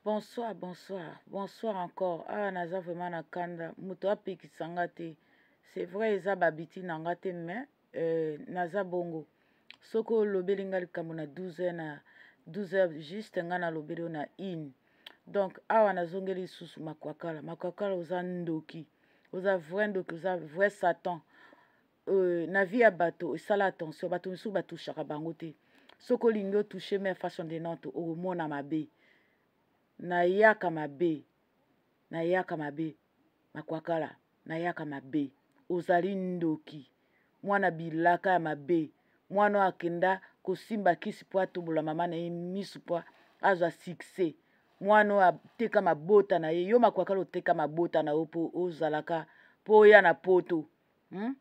Bonsoir, bonsoir, bonsoir encore. Ah, naza vraiment na kanda. Moto apekisa nga te. C'est vrai eza babiti na nga te mais euh, naza bongo. Soki olobeli nga likambo na 12 heures na 12 heures juste nga nalobeli yo na une. Donc awa nazongeli lisusu makwakala. Makwakala oza ndoki. Oza vrai ndoki, oza vrai satan. euh, na vie ya bato esala attention bato mosusu batushaka bango te soki olingi otushe me façon de nante okomona mabe nayaka mabe nayaka mabe makwakala nayaka mabe ozali ndoki mwana bilaka ya mabe mwana oyo akenda kosimba kisi mpo atobola mama na ye miso mpo azwa succès mwana oyo ateka mabota na ye yo makwakala oteka mabota na yo mpo ozalaka mpo oya na poto hmm?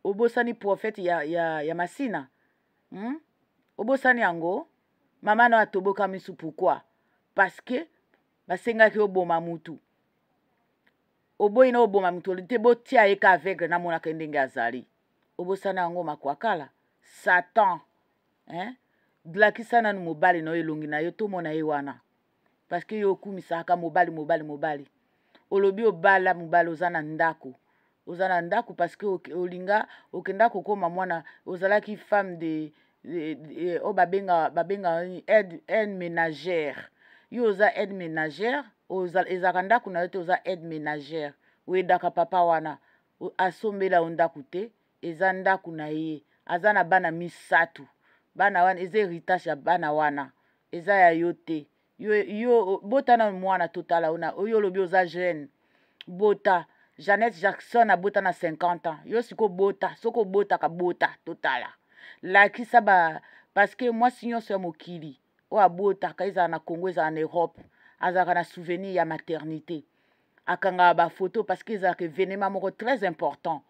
obosani prophète ya, ya, ya masina hmm? obosani yango mama na atoboka misu pourquoi parce que basengaki oboma mutu oboyi na oboma moto te botia ye ka aveugle namonaka ye ndenge azali obosana yango makwakala satan eh? blakisa nanu mobali na yo elongi na yo tomona ye wana parce que yo okumisaka mobali mobali mobali olobi obala mobali oza na ndako oza na ndako parce que olinga okenda kokoma mwana ozalaki femme de oyo oh, babenga babenga aide aide ménagère yo oza aide ménagère ezalaka ndako na yo te oza aide ménagère oyedaka papa wana asombela yo ndako te eza ndako na ye aza na bana misato bana wana eza heritage ya bana wana eza ya yo te yo, yo bota nanu mwana totala ona oyo olobi oza jeune bota jeannette jackson abota na 50 ans yo siko bota soki obotaka bota totala lakisa ba parceke mwasi nyonso ya mokili oyo abotaka ezala na congo ezala na europe azalaka na souvenir ya maternité akangaka bafoto parce que ezalaka événement moko très important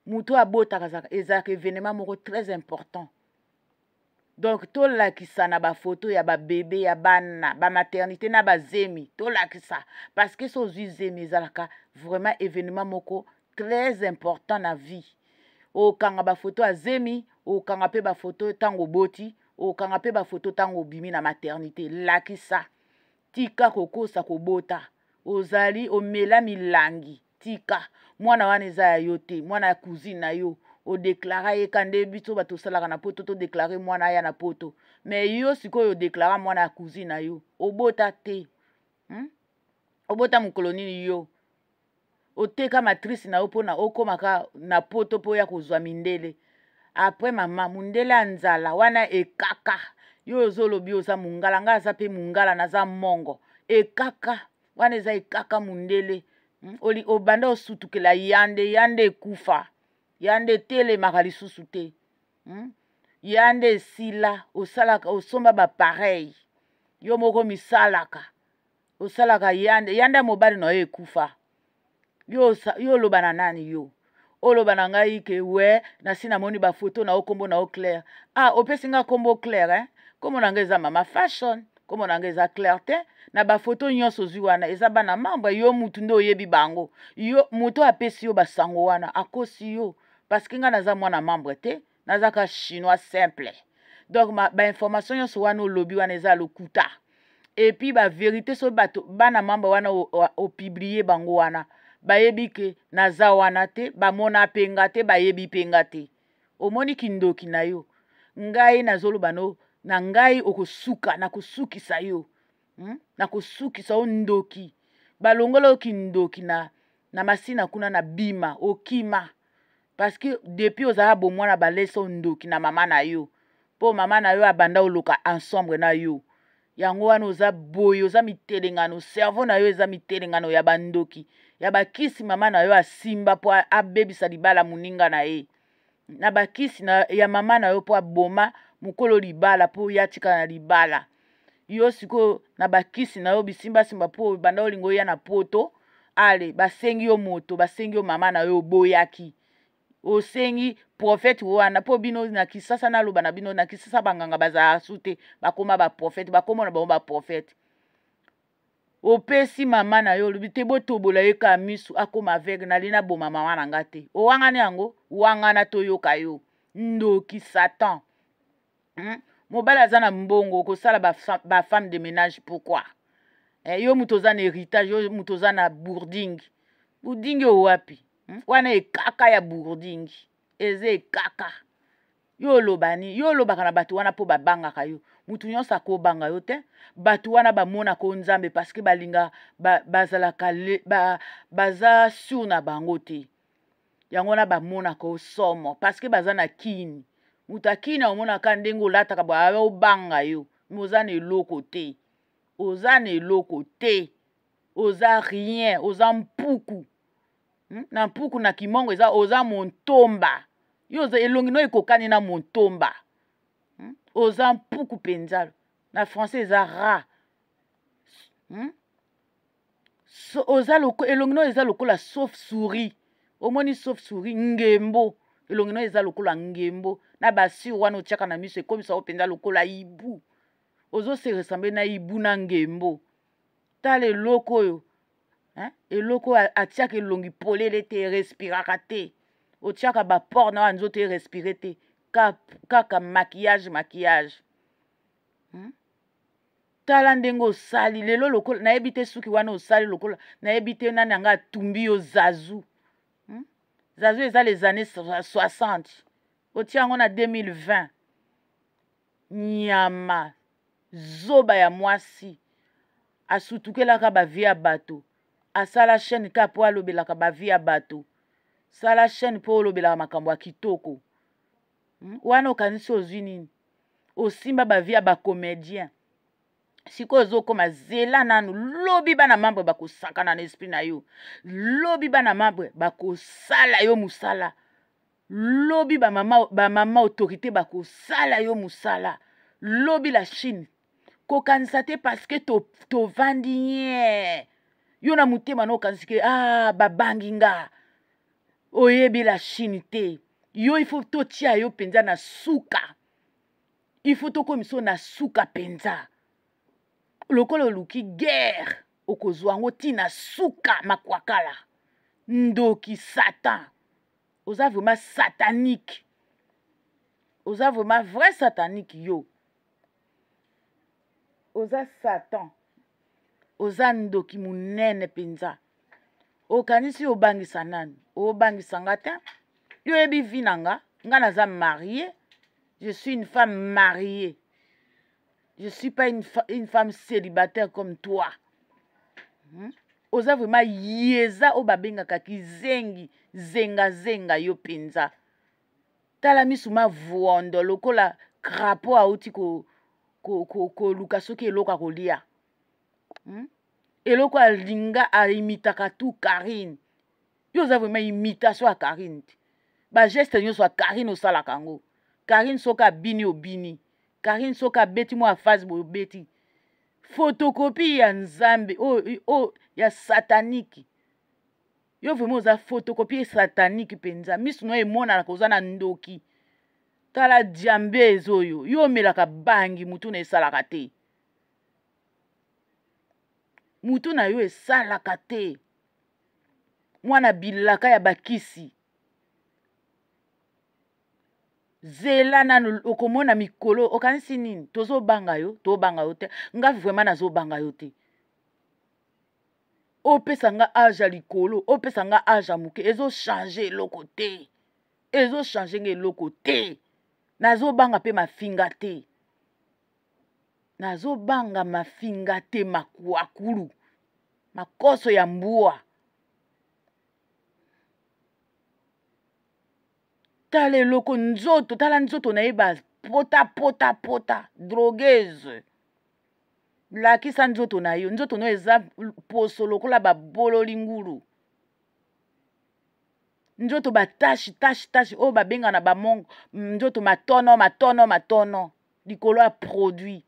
moto oyo abotaka ezalaka événement moko très important donc tolakisa na bafoto ya babebe ya bana bamaternité na bazemi tolakisa parce que so ozwi zemi ezalaka vraiment événement moko très important na vie okanga bafoto ya zemi okanga mpe bafoto ntango oboti okanga mpe bafoto ntango obimi na maternité lakisa tika kokosa kobota ozali omela milangi tika mwana wana eza ya yo te mwana ya cousine na yo odeklara ye ka nde biso bato osalaka na poto todeklare mwana aya na poto me yo sikoyo odeklara mwana ya cousine na yo obota te hmm? obota mokolo nini yo oteka matrice na yo mpo na okomaka na poto mpo oya kozwa mindele apres mama mondele ya nzala wana ekaka yo ozolobi oza mongala ngai aza mpe mongala naza mongo ekaka wana eza ekaka mondele hmm, obanda osutukela yande yande ekufa yande etelemaka lisusu te hmm? yande esila osalaka osomba bapareil yo moko misalaka osalaka yanda yanda ya mobali na yo ekufa yo oloba na nani yo oloba na ngai ke we nasi namoni bafoto na yo nkombo na yo claire ah opesi ngai nkombo claire eh? nkombo na ngai eza mama fashion nkombo na ngai eza claire te na bafoto nyonso ozwi wana eza bana membre yo mutu nde oyebi bango yo moto apesi yo basango wana akosi yo parceke ngai naza mwana membre te naza ka chinois simple donc bainformation nyonso wana olobi wana eza lokuta epuis baverité soki bato bana mamba wana opiblie bango wana bayebi ke naza wana te bamona mpe nga te bayebi mpe nga te omoni kindoki na yo ngai nazoloba no na ngai okosuka nakosukisa yo hmm? nakosukisa yo ndoki balongola yo kindoki na, na masina kuna na bima okima parce que depuis ozala bomwana balesa ondoki na mama na yo mpo mama na yo abanda oloka ensemble na yo yango wana oza boye oza mitelengano cerveau na yo eza mitelengano ya bandoki ya bakisi mama na yo asimba mpo abebisa libala moninga na ye na bakisi na, ya mama na yo mpo aboma mokolo libala mpo ye atikala na libala yo sikoyo na bakisi na yo bisimbasimba mpo banda olinga oya na poto ale basengi yo moto basengi yo mama na yo oboyaki osengi profete wana mpo bino na kisasa naloba na bino na kisasa banganga bazala su te bakoma baprofete bakomona bango baprofete opesi mama na yo olobi te botobola ye kaka misu akoma aveugle nali naboma mama na nga te owangani yango wangana toyoka yo ndoki satan hmm? mobali aza na mbongo okosala bafemme de ménage pourquoi eh, yo moto oza na héritage yo moto oza na bourding bourding oyo wapi hmm? wana ekaka ya bourding eza ekaka yo olobani yo olobaka na bato wana mpo babangaka yo motu nyonso akobanga yo te bato wana bamonaka o nzambe parceke balinga bazalaka ba, ba, baza sur na bango te yango wana bamonaka osomo parceke baza na kini moto akini aomonaka ndenge olataka baa obanga yo me oza na eloko te oza na eloko te oza rien oza mpuku hmm? na mpuku na kimongo eza oza montomba yo oza elongi no ekokani na montomba hmm? oza mpuku mpenza na français eza ra hmm? so, oza loko, elongi no eza lokola sauf souris omoni sauf souris ngembo elongi no eza lokola ngembo na basure wana otyaka na miso ekomisa yo mpenza lokola ibu ozose ressemble na ibu na ngembo tala eloko oyo hein? eloko oyo atyaka elongi polele te erespiraka te otyaka baport na oyo nzoto erespire te kaka maquillage maquillage hmm? tala ndenge osali lelo lokola nayebi te suki wana osali lokola nayebi te nani anga atumbi yo zazu hmm? zazu eza les années 60 otia yango na 2020 nyama zoba ya mwasi asutukelaka bavie ya bato asala chaîne ka mpo alobelaka bavie ya bato sala chaîne mpo olobelaka makambo ya kitoko hmm? wana okanisi ozwi nini osimba bavie ya bacomédien sikoyo ozokoma zela nanu lobi bana mambre bakosakana na esprit na yo lobi bana mambre bakosala yo mosala lobi bamama ba mama autorité bakosala yo mosala lobi la chine kokanisa te parceke tovandi to nye yo na motema na okanisi ke ah, babangi nga oyebi la chine te yo il faut totia yo mpenza na suka il faut tokomisa yo na suka mpenza lokola oluki guerre okozwa yango ti na suka makwakala ndoki satan oza vraiment satanique oza vraiment vrai satanique yo oza satan oza ndoki monene mpenza okanisi obangisa nani obangisa nga te yo oyebi vi na nga nga naza marie je suis une femme mariée je suis pas une, fa une femme célibataire comme toi hmm? oza vraiment yeza oyo babengaka kizengi zengazenga yo mpenza tala misu mavondo lokola crapo auti koluka ko, ko, ko, ko soki eloko akolia hmm? eloko alinga aimitaka tu karine yo oza vraimen imitation ya karine te bageste nyonso ya karine osalaka yango karine soki abini obini karine soki abeti mwa afase boye obeti fotokopi ya nzambe oyo oh, oh, ya sataniki yo vraiment oza photocopie satanique mpenza misu na yo emonana koza na ndoki tala diambes oyo yo omelaka bangi motu na esalaka te motu na yo esalaka te mwana bilaka ya bakisi zela nanu okomona mikolo okanisi nini tozobanga yo tobanga yo te nga vraimen nazobanga yo te opesa nga age ya likolo opesa nga age ya moke ezochange eloko te ezochange nga eloko te nazobanga mpe mafinga te nazobanga mafinga te makuakulu makoso ya mbwa tala eloko nzoto tala nzoto na ye bapotapotapota drogueuse lakisa nzoto na yo nzoto na yo eza poso lokola babololi ngulu nzoto batashi tashi tashi oyo babengana bamong nzoto matono matono matono likolo ya produit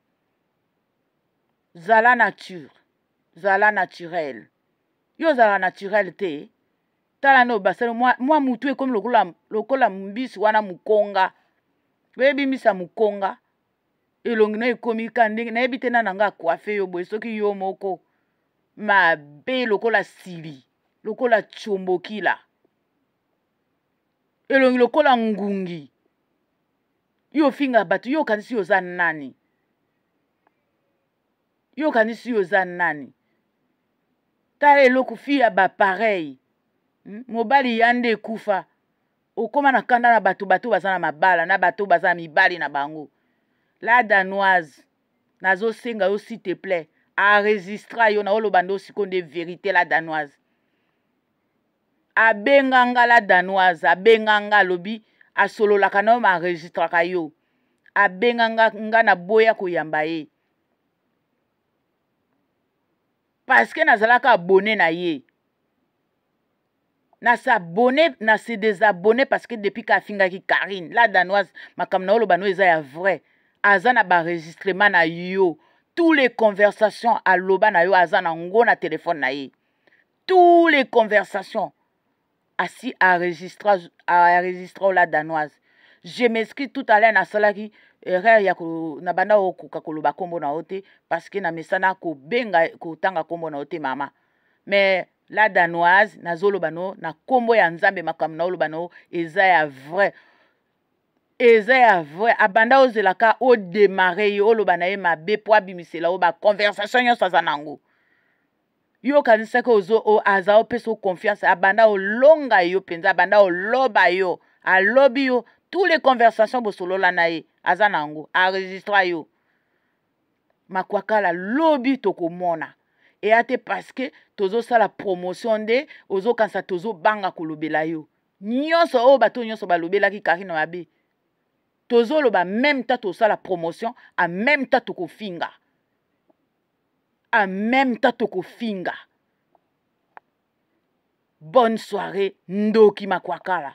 zala nature zala naturel yo ozalaka naturel te tala nde obasali mwa, mwa mutu ekomi lokola, lokola mbisi wana mokonga oyebi mbisi ya mokonga elongi no ekomi ka ndenge nayebi te nana nga akuafe yo boye soki yo moko mabe lokola sili lokola combokila elongi lokola ngungi yo ofinga bato yo okanisi yo oza nani yo okanisi yo oza nani tala eloko fi ya bapareil hmm? mobali ya nde ekufa okoma na kanda na bato bato baza na mabala na bato baza na mibali na bango la danoise nazosenga yo s'il te plaît aregistra yo naoloba nde osiko nde verité la danoise abenga nga la danoise abenga nga alobi asololaka na yo ma aregistraka yo abenga nga nga naboya koyamba ye parceke nazalaka abone na ye na s'abonner na se désabonner parce que depuis ka afingaki Karine la danoise makambo na oloba no eza ya vrai aza na baregistrement na yo tous les conversations aloba na yo aza na ngo na telefone na ye tous les conversations asi aregistra aregistra ola danoise je m'excuse tout à l'heure nasalaki erreur ya na banda okoka koloba nkombo na yo te parce que na mesana kobenga kotanga nkombo na yo te mama mais la danoise nazoloba no na nkombo ya nzambe makambo naoloba no eza ya vrai eza ya vrai abanda ozela ka odemare ye oloba na ye mabe mpo abimisela yo baconversation nyonso aza na yango yo okanisaki ozo o, aza opesa yo confiance abanda olonga yo mpenza abanda oloba yo alobi yo tous les conversations bosolola na ye aza na yango aregistra yo makwakala lobi tokomona eya te parceke tozosala promotion nde ozokanisa tozobanga kolobela yo nyonso oyo bato nyonso balobelaki karine mabe tozoloba meme ta tosala promotion a meme ta tokofinga a meme ta tokofinga bonne soirée ndoki makwakala